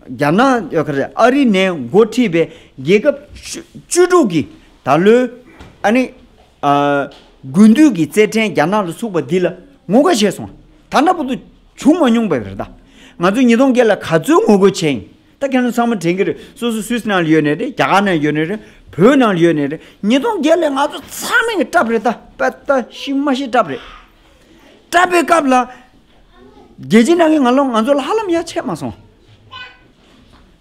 རྒྱ་ནག་ཨ་རི་ནས་འགོ་ཁྲིད་པའི་རྒྱལ་ཁབ་བཅུ་དྲུག་གིས་ད་ལོའི་ཨ་ནི། དགུན་དུས་ཀྱི་རྩེད་འགྲན་རྒྱ་ནག་ལ་ཚུགས་པ་འདི་ལ་ངོ་དགའ་བྱས་སོང། ད་འདྲ་པོ་དུ་བྱུང་མ་མྱོང་པས་རེད་ད། ང་ཚོས་ཉིས་སྟོང་བརྒྱད་ལ་ག་ཚོད་ངོ་རྒོལ་བྱས་ཡིན། ད་མཁན་སློབ་ཚང་མ་དྲན་གྱི་རེད་སོ་སོ་སུད་སི་ནང་ལ་ཡོད་ནས་རེད་རྒྱ་གར་ནང་ཡོད་ནས་རེད་བོད་ནང་ལ་ཡོད་ནས་རེད་ཉིས་སྟོང་བརྒྱད་ལ་ང་ཚོ་ཚང་མས་སྐྲབས་རེད་ད་པ་ད་ཤི་མ་ཤི་སྐྲབས་རེད། སྐྲབས་པའི་སྐབས་ལ། རྒྱལ་སྤྱི་ནང་གི་ང་ལོ་ང་ཚོ་ལ་ཧ་ལམ་ཡ་ཆད་མ་སོང།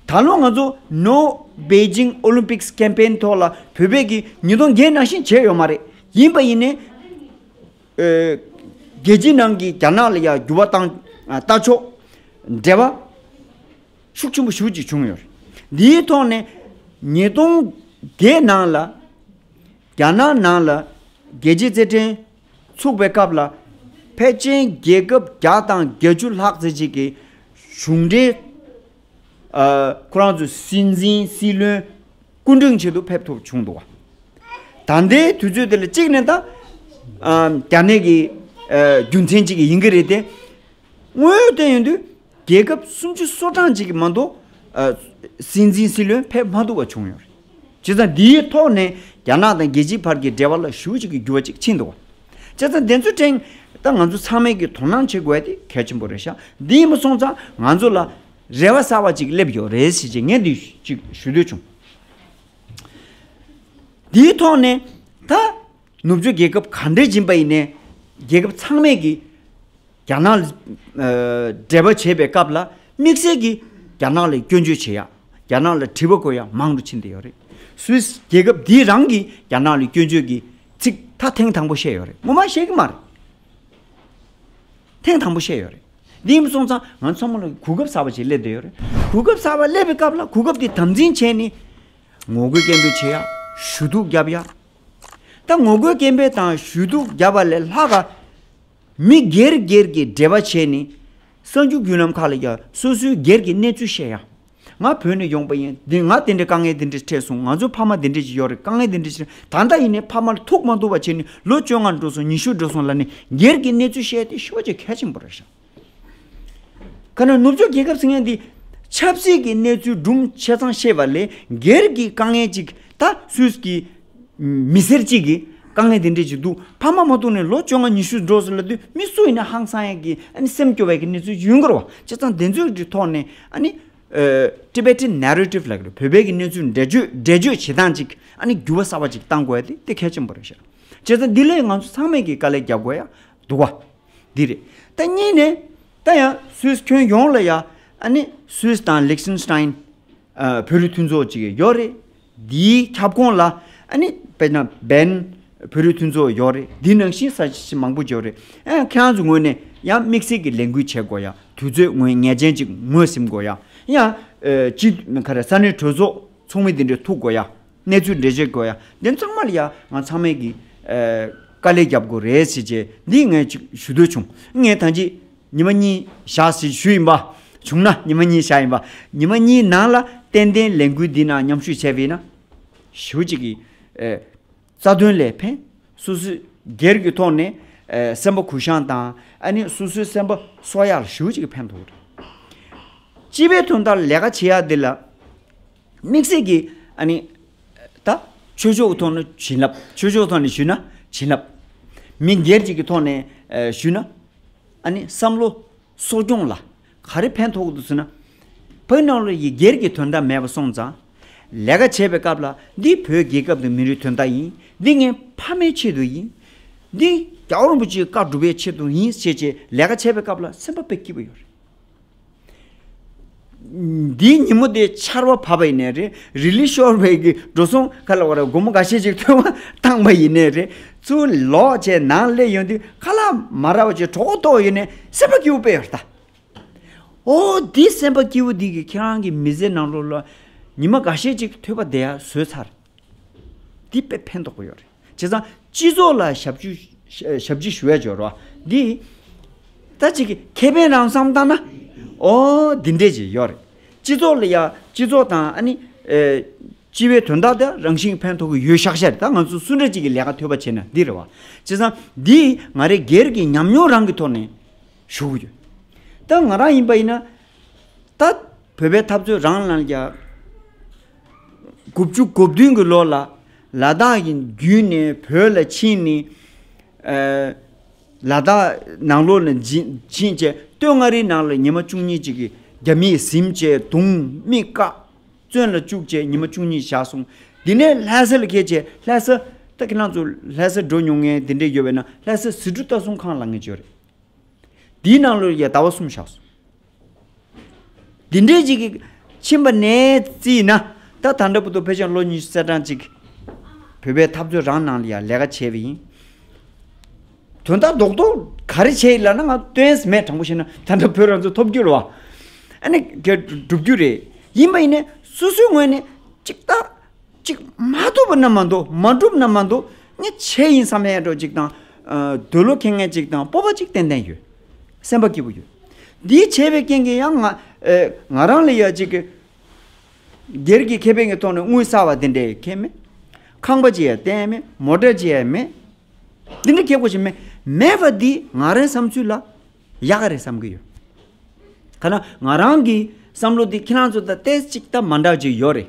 ད་ལོ་ང་ཚོ་ནོ་པེ་ཇིང་ཨོ་ལིམ་པིག་ཀེམ་པེན་ཐོག་ལ་བོད་པས་ཀྱིས་ཉིས་སྟོང་བརྒྱད་ནང་བཞིན་བྱས་ཡོད་མ་རེད་ཡིན་པ་ཡིན་ནའི། རྒྱལ་སྤྱིའི་ནང་གི་རྒྱ་ནག་ལ་ཡ་འགྱུར་བ་བཏང་ལྟ་ཆོག་འབྲེལ་བ་ཤུགས་ཆེན་པོ་ཞུ་ཅིག་བྱུང་ཡོད་རེད་འདིའི་ཐོག་ནས་ཉིས་སྟོང་བརྒྱད་ནང་ལ་རྒྱ་ནག་ནང་ལ་རྒྱལ་སྤྱིའི་རྩེད་འགྲན་ཚུགས་པའི་སྐབས་ལ། ཕལ་ཆེན་རྒྱལ་ཁབ་བརྒྱ་དང་བརྒྱད་ཅུ་ལྷག་ཚེ་གཅིག་གི་གཞུང་འབྲེལ་ཁོ་རང་ཚོའི་སྲིད་འཛིན་སྲིད་བློན་སྐུ་འབྲེང་བྱེད་དུ་ཕེབས་ཐུབ་བྱུང་འདུག་ད་ལྟའི་དུས་ཚོད་དེ་ལ་གཅིག་ནས་ད་རྒྱ་ནད་ཀྱི་རྒྱུ་མཚན་གཅིག་ཡིན་གྱི་རེད་དེ། དངོས་ཡོད་བལྟས་ཡོང་དུས། རྒྱལ་ཁབ་སུམ་ཅུ་སོ་གྲངས་ཅིག་གི་མ་མདོ་སྲིད་འཛིན་སྲིད་བློན་ཕེབས་མ་ཐུབ་པ་བྱུང་ཡོད། བྱས་ཙང་དེའི་ཐོག་ནས་རྒྱ་ནག་དང་རྒྱལ་སྤྱིའི་བར་གྱི་འབྲེལ་བ་ལ་ཞུ་གཅིག་གི་འགྱུར་བ་ཅིག་ཕྱིན་འདུག། བྱས་ཙང་དེ་ཚོའི་ཕྲེང་ལྟར་ང་ཚོ་ཚང་མས་ཀྱིས་དོ་སྣང་བྱེད་དགོས་པ་དེ་གལ་ཆེན་པོ་རེད་ཤག་འདི་ཡིན་པ་སོང་ཙང་ང་ཚོ་ལ་རེ་བ་གསར་བ་ཅིག་སླེབས་ཡོད་རེད་ཟེར་ཆེད་ངས་འདི་ཅིག་ཞུ་འདོད་བྱུང། དེའི་ཐོག་ནས་ད། ནུབ་ཕྱོགས་རྒྱལ་ཁབ་ག་འདྲས་སྦྱིན་པ་ཡིན་ནའི་རྒྱལ་ཁབ་ཚང་མས་ཀྱིས་རྒྱ་ནག་ལ་འབྲེལ་བ་བྱེད་པའི་སྐབས་ལ་དམིགས་བསལ་གྱིས་རྒྱ་ནག་ལ་སྐྱོན་བརྗོད་བྱེད་ཡག་རྒྱ་ནག་ལ་དྲི་བ་གོ་ཡག་མང་དུ་ཕྱིན་བསྡད་ཡོད་རེད། Swiss རྒྱལ་ཁབ་འདིས་རང་གིས་རྒྱ་ནག་ལ་སྐྱོན་བརྗོད་ཀྱི་ཚིག་ཐ་ཐེངས་དང་པོ་བཤད་ཡོད་རེད་ངོ་མ་བཤད་ཀྱི་མ་རེད། ཐེངས་དང་པོ་བཤད་ཡོད་རེད། འདི་ཡིན་པ་སོང་ཙང་ང་ཚོ་ཚང་མ་ལ་གོ་སྐབས་གསར་པ་ཞིག་སླེབས་བསྡད་ཡོད་རེད། གོ་སྐབས་གསར་པ་སླེབས་པའི་སྐབས་ལ་གོ་སྐབས་དེ་དམ་འཛིན་བྱས་ནས་ངོ་རྒོལ་སྐད་འབོད་བྱེད་ཡག་ཞུ་གཏུག་བརྒྱབ་ཡག་ད་ངོ་རྒོལ་སྐད་འབོད་དང་ཞུ་གཏུག་རྒྱབ་པ་ལས་ལྷག་ག། མི་སྒེར་སྒེར་གྱི་འབྲེལ་བ་བྱས་ནས། གསར་འགྱུར་བརྒྱུད་ལམ་ཁག་ལ་ཡང་སོ་སོའི་སྒེར་གྱི་གནས་ཚུལ་བཤད་ཡ། ང་བོད་ནས་ཡོང་པ་ཡིན་ང་དེ་འདྲའི་དཀའ་ངལ་དེ་འདྲས་འཕྲད་སོང་ང་ཚོའི་ཕ་མ་དེ་འདྲས་ཀྱི་ཡོད་རེད་དཀའ་ངལ་དེ་འདྲས་ཆེ་ན་ད་ལྟ་ཡིན་ནས་ཕ་མར་ཐུག་མ་ཐུག་བ་བྱས་ནས་ལོ་བཅོ་ལྔ་འགྲོ་སོང་ཉི་ཤུ་འགྲོ་སོང་ལ་ནས་སྒེར་གྱི་གནས་ཚུལ་བཤད་དེ་ཤོག་ཅེས་གལ་ཆེན་པོ་རེད་བཞག། ཁ་ནང་ནུབ་ཕྱོགས་རྒྱལ་ཁབ་ཟེར་མཁན་འདི། ཆབ་སྲིད་ཀྱི་གནས་ཚུལ་སྦྲུམ་ཆེ་ཚང་ཤེས་པ་ལས་སྒེར་གྱི་དཀའ་ངལ་ཅིག་ད་སུས་ཀྱི་མི་སེར་གཅིག་གི་དཀའ་ངལ་དེ་འདྲས་ཅིག་འདུག་ཕ་མ་མ་གཏོགས་ནས་ལོ་བཅོ་ལྔ་ཉི་ཤུ་འགྲོ་ཟེར་ལ་དུས་མི་སུ་ཡིན་ན་ཧང་སང་ཡག་གི་ཨ་ནི་སེམས་སྐྱོ་བ་ཡག་གི་གནས་ཚུལ་ཡུན་འགོར་བ་ཆེ་ཚང་དེ་ཚོའི་གི་ཐོག་ནས་ཨ་ནི། Tibetan Narrative ལགས་འདི་བོད་པའི་གི་གནས་ཚུལ་འགྲེལ་བརྗོད་འགྲེལ་བརྗོད་བྱེད་སྟངས་ཅིག་ཨ་ནི་འགྱུར་བ་གསར་བ་ཅིག་གཏང་དགོས་ཡ་དེ་དེ་གལ་ཆེན་པོ་རེད་བཤད། བྱས་ཙང་འདི་ལས་ང་ཚོ་ཚང་མས་གི་དཀའ་ལས་རྒྱག་དགོས་ཡ་འདུག་བ། འདི་རེད། ད་གཉིས་ནས། ད་ཡང Swiss ཁྱོན་ཡོངས་ལ་ཡ། ནི Swiss དང Liechtenstein། བོད་རིགས་མཐུན་ཚོགས་ཅིག་ཡོད་རེད། འདིའི་ཁྱབ་ཁོངས་ལ། ནི Bern། བོད་རིགས་མཐུན་ཚོགས་ཡོད་རེད། འདི་ནང་བཞིན་ས་ཆ་མང་པོ་ཡོད་རེད། ཁྱེད་རང་ཚོའི་ངོས་ནས་ཡང་དམིགས་བསལ་གྱི་ལས་འགུལ་བྱེད་དགོས་ཡ། དུས་ཚོད་ངོས་ངེས་ཅན་ཅིག་ངོས་ཟིན་དགོས་ཡ། ཡང། ས་གནས་གྲོས་ཚོགས་ཚོགས་མི་འདི་འདྲས་ཐུག་དགོས་ཡ། གནས་ཚུལ་འགྲེལ་བརྗོད་དགོས་ཡ་འདི་ཚང་མ་ལ་ཡ་ང་ཚང་མས་ཀྱི་དཀའ་ལས་རྒྱབ་དགོས་རེད་ཞེས་བཅས་འདི་ངས་ཅིག་ཞུ་འདོད་བྱུང་ངས་ད་ཅིག་ཉི་མ་གཉིས་བཞག་ཞིག་ཞུ་ཡིན་པ་བྱུང་ན་ཉི་མ་གཉིས་བཞག་ཡིན་པ་ཉི་མ་གཉིས་ནང་ལ་ཏན་ཏན་ལས་འགུལ་འདི་ནང་མཉམ་ཞུགས་བྱས་པས་ན་ཞུ་གཅིག་གི་རྩ་དོན་ལས་ཕན་སོ་སོའི་སྒེར་གྱི་ཐོག་ནས་སེམས་པ་གུ་བཤངས་དང་ཨ་ནི་སོ་སོའི་སེམས་པ་གསོ་ཡག་ལ་ཞུ་གཅིག་གི་ཕན་ཐོགས་རེད་སྤྱི་པའི་དོན་དག་ལས་ཀ་བྱེད་ཡག་འདི་ལ་དམིགས་བསལ་གྱི། ད། ཆོས་ཕྱོགས་ཀྱི་ཐོག་ནས་བྱིན་རླབས། ཆོས་ཕྱོགས་ཐོག་ནས་ཞུས་ན་བྱིན་རླབས། མི་སྒེར་གྱི་ཐོག་ནས་ཞུས་ན། བསམ་བློ། གསོ་སྐྱོང་ལ། ག་རེ་ཕན་ཐོགས་འདུག་ཟེར་ན། བོད་ནང་ལོ་ཡི་སྒེར་གྱི་དོན་དག་མེད་པ་སོང་ཙང། ལས་ཀ་བྱེད་པའི་སྐབས་ལ་འདི་བོད་རྒྱལ་ཁབ་དང་མི་རིགས་དོན་དག་ཡིན། འདི་ངའི་ཕ་མའི་ཆེད་དུ་ཡིན། འདི་རྒྱ་བོ་རིན་པོ་ཆེའི་བཀའ་སྒྲུབ་པའི་ཆེད་དུ་ཡིན་ཞེས་ལས་ཀ་བྱེད་པའི་སྐབས་ལ་སེམས་པ་དཔེ་སྐྱིད་པོ་ཡོད་རེད། འདིའི་ཉིན་མོ་དེ་ཆར་བ་བབས་པ་ཡིན་ནས་རེད་རི་ལི་ཤོར་བའི་འགྲོ་སོང་ཁ་ལ་བ་ར་སྒོར་མོ་འགའ་ཤས་ཅིག་ཐོན་བ་བཏང་བ་ཡིན་ནས་རེད་ཚུར་ལོག་བྱས་ནང་སླེབས་ཡོང་དུས་ཁ་ལ་མ་ར་བ་ཅིག་གྲོགས་པོ་ཐོག་ཡོད་ནས་སེམས་པ་སྐྱིད་བོ་པས་ད། ཨོ་འདི་སེམས་པ་སྐྱིད་བོ་འདི་གི་ཁྱེད་རང་གི་མི་ཟས་ནང་ལོགས་ལ་ཉི་མ་འགའ་ཤས་ཅིག་ཐོད་པ་དེ་ཡང་ཟོས་ཚར་འདི་དཔེ་ཕན་ཐོགས་པོ་ཡོད་རེད། བྱས་ཙང་སྤྱི་ཚོགས་ལ་ཞབས་ཕྱི་ཞུ་བས་སྦྱོར་བ་འདི། ད་ཅིག་གི་ཁེ་ཕན་རང་བསམ་བཏང་ན། ཨོ། འདི་འདྲས་ཅིག་ཡོད་རེད། སྤྱི་ཚོགས་ལ་ཡ་སྤྱི་ཚོགས་དང་ཨ་ནི། སྤྱི་བའི་དོན་དག་དེ་རང་བཞིན་ཕན་ཐོགས་ཀྱི་ཡོད་ཤག་ཤག་རེད་ད་ང་ཚོ་སུ་འདྲ་ཅིག་གི་ལས་ཀ་ཐོས་པ་བྱས་ན་འདི་རེད་བ། བྱས་ཙང་འདི་ང་རེ་སྒེར་གྱི་ཉམས་མྱོང་རང་གི་ཐོག་ནས་ཞུ་གི་ཡོད། ད་ང་རང་ཡིན་པ་ཡིན་ན། ད་བོད་པའི་འཐབ་རྩོད་རང་ལ་ཡ། དགུ་བཅུ་དགུ་བདུན་གྱི་ལོ་ལ། ལ་དྭགས་ཀྱི་རྒྱུད་ནས་བོད་ལ་ཕྱིན་ནས། ལ་དྭགས་ནང་ལོགས་ལ་ཕྱིན་རྗེས་སྟོད་མངའ་རིས་ནང་ལ་ཉི་མ་བཅུ་གཉིས་ཅིག་གིས་རྒྱ་མིས་གཟིམས་བཅས་གདུང་རྨིས་བཀག་བཙོན་ལ་བཅུག་རྗེས་ཉི་མ་བཅུ་གཉིས་བཞག་སོང། དེ་ནས་ལྷ་ས་ལ་ཁྱེད་ཀྱིས་ལྷ་ས། ད་ཁྱེད་རང་ཚོ་ལྷ་ས་འགྲོ་མྱོང་ངེས་དེ་འདྲས་ཡོད་པས་ན་ལྷ་ས་ཟི་གྲུ་ལྟ་སྲུང་ཁང་ལ་ངེས་བརྗོད་རེད། དེའི་ནང་ལོ་ཡ་ཟླ་བ་གསུམ་བཞག་སོང། འདི་འདྲའི་ཅིག་གིས་ཕྱིན་པ་ནས་བརྩིས་ན། ད་ད་འདྲ་བུ་ཏོ་བོད་ཆེན་ལོ་ཉི་ཤུ་རྩ་གྲངས་ཅིག་བོད་པའི་འཐབ་རྩོད་རང་ནང་ལ་ཡང་ལས་ཀ་བྱས་པ་ཡིན། དོན་དག་རྡོག་རྡོག་ག་རེ་བྱས་ཡོད་ལབ་ན་ང་དོན་མེད་དྲང་པོ་བཤད་ན་ད་ལྟ་བོད་རང་བཙན་ཐོབ་རྒྱུ་ལ་བ་ཨ་ནི་འགྲུབ་རྒྱུ་རེད། ཡིན་པ་ཡིན་ན་སོ་སོའི་ངོས་ནས་ཅིག་ལྟ་གཅིག། མ་ཐུབ་པ་རྣམས་མ་འདུག་མ་འགྲུབ་རྣམས་མ་འདུག་ངས་བྱས་ཡིན་བསམ་པའི་ཡལ་འགྲོ་གཅིག་དང། འདོད་བློ་ཁེངས་ངེས་གཅིག་དང་སྤོབས་པ་གཅིག་ཏན་ཏན་ཡོད། སེམས་པ་སྐྱིད་པོ་ཡོད། འདི་བྱས་པའི་རྐྱེན་གྱིས་ཡང་ང། ང་རང་ལ་ཡ་གཅིག་གི། སྒེར་གྱི་ཁེ་ཕན་གྱི་ཐོག་ནས་དངུལ་བསགས་པ་དེ་འདྲའི་ཁེ་མེད། ཁང་པ་ཅི་ཡང་བསྟན་ཡས་མེད་མོ་གྲལ་ཅི་ཡང་མེད། འདི་འདྲའི་ཁེ་སྒོ་ཞིག་མེད། མེད་པ་འདིས་ང་རང་བསམ་ཚུལ་ལ། ཡག་ག་རེ་བསམ་གྱི་ཡོད། ཐ་ན་ང་རང་གི་བསམ་བློ་འདི་ཁྱེད་རང་ཚོ་དང་སྟེ་གཅིག་དང་མ་འདྲ་གཅིག་ཡོད་རེད།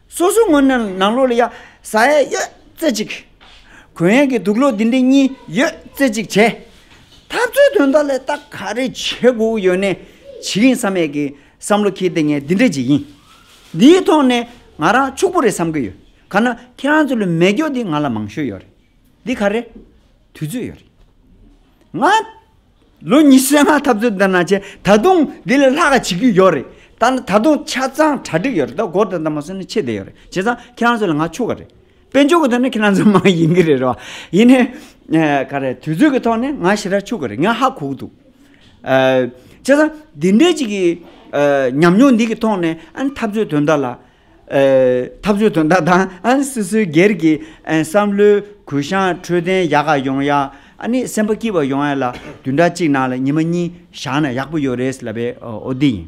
སོ་སོའི་ངོས་ནས་ནང་ལོགས་ལ་ཡ་ཟ་ཡ་ཡོད་རྩེ་གཅིག། གོས་ཡན་གྱི་དུག་ལོག་འདི་འདྲས་གཉིས་ཡོད་རྩེ་གཅིག་བྱས། འཐབ་རྩོད་དོན་དག་ལས་ད་ག་རེ་བྱེད་དགོས་ཡོད་ནས་བྱེད་ཡིན་ས་མེད་ཀྱི་བསམ་བློ་ཁྱེར་ཏེ་ངས་འདི་འདྲས་བྱེད་ཡིན། འདིའི་ཐོག་ནས་ང་རང་ཕྱུག་པོ་རེད་བསམ་གྱི་ཡོད། ག་ན་ཁྱེད་རང་ཚོ་ལ་མེ་སྒྱོགས་འདི་ང་ལ་མང་ཤོས་ཡོད་རེད། འདི་ག་རེ། དུས་ཚོད་ཡོད་རེད། ང། ལོ་ཉི་ཤུའི་སྔ་འཐབ་རྩོད་འདི་ནང་བྱས་ད་དུང་དེ་ལས་ལྷག་ག་བྱེད་ཀྱི་ཡོད་རེད་ད་ནི་ད་དུང་ཆ་ཚང་གྲ་སྒྲིག་ཡོད་རེད་ད་སྒོར་དེ་ལྟར་མ་བསོན་ན་ཆེད་དེ་ཡོད་རེད་བྱས་ཙང་ཁྱེད་རང་ཚོ་ལ་ང་ཕྱུག་ག་རེད་དཔེ་འཇོག་གི་ཐོག་ནས་ཁྱེད་རང་ཚོ་མ་ཡིན་གྱི་རེད་རེད་བ་ཡིན་ནས་ག་རེད་དུས་ཚོད་ཀྱི་ཐོག་ནས་ང་ཞེ་དྲག་ཕྱུག་གི་རེད་ང་ཧ་གོ་གི་འདུག་བྱས་ཙང་འདི་འདྲའི་གཅིག་གི་ཉམས་མྱོང་འདི་གི་ཐོག་ནས་ཨ་ནི་འཐབ་རྩོད་དོན་དག་ལ་འཐབ་རྩོད་དོན་དག་དང་སོ་སོའི་སྒེར་གྱི་བསམ་བློའི་གུ་བཤངས་འཕྲོད་བསྟེན་ཡག་ག་ཡོང་ཡ། སེམས་པ་སྐྱིད་པ་ཡོང་ཡ་ལ་དུས་འདྲ་གཅིག་ནང་ལ་ཉི་མ་གཉིས་བཞག་ན་ཡག་པོ་ཡོད་རེད་ལབ་པའི་འོ་འདི་ཡིན།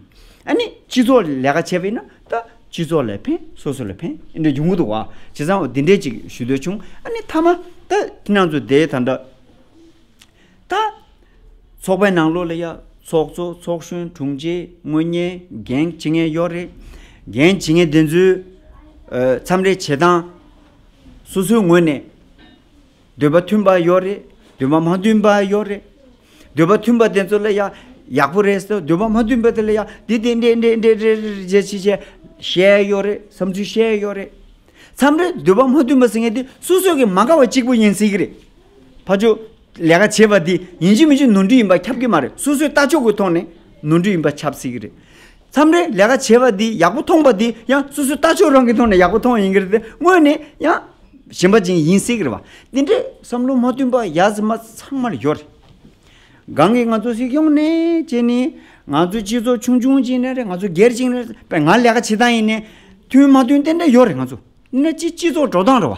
སྤྱི་ཚོགས་ལས་ཀ་བྱེད་པ་ཡིན་ན་ད་སྤྱི་ཚོགས་ལས་ཕན་སོ་སོ་ལས་ཕན་འདི་འདྲ་ཡོང་གི་འདུག་བ། བྱས་ཙང་འོ་འདི་འདྲས་ཅིག་ཞུ་འདོད་བྱུང། མཐའ་མ་ད་ཁྱེད་རང་ཚོ་དེ་ད་འདྲ། ད། ཚོགས་པའི་ནང་ལོགས་ལ་ཡ། ཚོགས་གཙོ་ཚོགས་གཞོན་དྲུང་ཆེ་དངོས་གཉེར་འགན་ཇི་ངས་ཡོད་རེད། འགན་ཇི་ངས་དེ་ཚོའི་འཚམས་འདྲི་བྱེད་སྟངས། སོ་སོའི་ངོས་ནས། འདོད་པ་མཐུན་པ་ཡོད་རེད། འདོད་པ་མ་མཐུན་པ་ཡོད་རེད། འདོད་པ་མཐུན་པ་དེ་ཚོ་ལ་ཡ། ཡག་པོ་རེད་ཟེར་འདོད་པ་མ་མཐུན་པ་དེ་ལ་ཡ། འདི་དེ་འདྲས་འདྲས་འདྲས་རེད་བྱས་བྱས་བྱས། བཤད་ཡོད་རེད་བསམ་ཚུལ་བཤད་ཡོད་རེད། འཚམས་འདྲི་འདོད་པ་མ་མཐུན་པ་ཟེར་ངེས་དེ་སོ་སོ་གི་མ་དགའ་བ་གཅིག་པུ་ཡིན་སྲིད་གི་རེད། ཕ་ཅོ། ལས་ཀ་བྱེད་པ་འདི་ཡིན་གཅིག་མིན་གཅིག་ནོར་འཁྲུལ་ཡིན་པ་ཁྱབ་ཀྱི་མ་རེད་སོ་སོའི་ལྟ་ཕྱོགས་ཀྱི་ཐོག་ནས་ནོར་འཁྲུལ་ཡིན་པ་ཁྱབ་སྲིད་ཀྱི་རེད། མཚམས་རེ་ལས་ཀ་བྱེད་པ་འདི་ཡག་པོ་མཐོང་པ་འདི་ཡང་སོ་སོའི་ལྟ་ཕྱོགས་རང་གི་ཐོག་ནས་ཡག་པོ་མཐོང་ཡིན་གྱི་རེད་དེ་དངོས་ནས་ཡང་ཞེན་པ་ཅན་ཡིན་སྲིད་ཀྱི་རེད་བ། འདི་འདྲའི་བསམ་བློ་མ་བསྟུན་པ་ཡ་ཟི་མ་ཚང་མར་ཡོད་རེད། གང་གིས་ང་ཚོ་སྲིད་སྐྱོང་ནས་བྱས་ནས་ང་ཚོའི་སྤྱི་ཚོགས་ཆུང་ཆུང་ཅིག་ནས་རེད་ང་ཚོ་སྒེར་གཅིག་ནས་རེད་པས་ང་ལས་ཀ་བྱེད་སྟངས་ཡིན་ནས་མཐུན་མ་མཐུན་དེ་འདྲ་ཡོད་རེད་ང་ཚོ། འདི་འདྲ་སྤྱི་ཚོགས་འགྲོ་སྟངས་རེད་བ།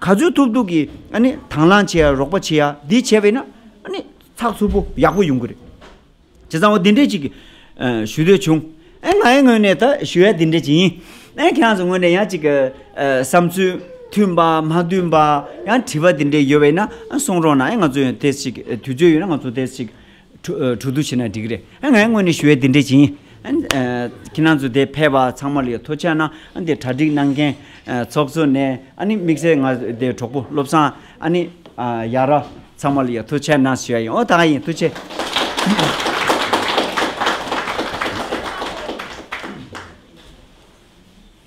ག་ཚོད་ཐུབ་ཐུབ་ཀྱིས་དང་བླངས་བྱེད་ཡ་རོགས་པ་བྱེད་ཡ་འདི་བྱས་པས་ན་ཚགས་ཚུད་པོ་ཡག་པོ་ཡོང་གི་རེད། བྱས་ཙང་བ་འདི་འདྲས་ཅིག་ཞུ་འདོད་བྱུང། ངའི་ངོས་ནས་ད་ཞུ་ཡ་འདི་འདྲས་ཅིག་ཡིན། ཁྱེད་རང་ཚོའི་ངོས་ནས་ཡང་ཅིག་བསམ་ཚུལ་མཐུན་པ་མ་མཐུན་པ་ཡང་དྲི་བ་འདི་འདྲས་ཡོད་པས་ན་གསུང་རོགས་གནང་ང་ཚོས་དེ་ཅིག་དུས་ཚོད་ཡོད་ན་ང་ཚོ་དེ་ཅིག་དྲུག་ཏུ་བྱས་ན་འགྲིག་གི་རེད། ངས་དངོས་ནས་ཞུ་བའི་དེ་འདྲས་བྱིན། ཁྱེད་རང་ཚོ་དེ་ཕལ་པ་ཚང་མ་ལ་ཡོད་ཐོ་ཆག་ན་ཨ་ནི་གྲ་སྒྲིག་གནང་མཁན་ཚོགས་གཙོ་ནས་ཨ་ནི་དམིགས་བསལ་ང་དེ་གྲོགས་པོ་བློ་བཟང་ཨ་ནི་ཡ་ར་ཚང་མ་ལ་ཡོད་ཐོ་ཆག་ན་ཞུ་ཡ་ཡིན་ཨོ་ད་ག་ཡིན་ཐུགས་ཆེ།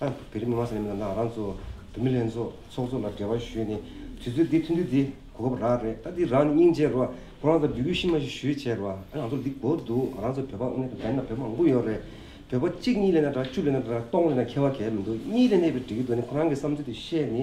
ཨ། བོད་རིགས་མི་མང་ས་གནས་མི་དང་དང་རང་གཙོ། བོད་མི་ལྷན་ཚོགས་ཚོགས་གཙོ་ལ་འབྲེལ་བ་ཞུས་ནས་དུས་ཚོད་འདི་ཐུན་དུས་འདི་གོ་སྐབས་རག་རེད་ད་འདི་རང་ནས་སྙིང་རྗེ་རོགས་ཁོ་རང་ཚོ་འབྲི་གུས་ཤི་མ་ཤི་ཞུས་བྱས་རོགས་ཨ་ང་ཚོར་འདི་གོ་འདུག་ང་རང་ཚོ་བོད་པ་དངོས་དང་བདེན་མེད་ན་བོད་མང་པོ་ཡོད་རེད་བོད་པ་གཅིག་གཉིས་ལས་ན་དྲག་བཅུ་ལས་ན་དྲག་སྟོང་ལས་ན་མཁས་བ་གལ་མི་འདུག་གཉིས་ལས་གནས་པའི་འབྲི་གུས་འདུག་ནི་ཁོ་རང་གི་བསམ་ཚུལ་དེ་བཤད་ནི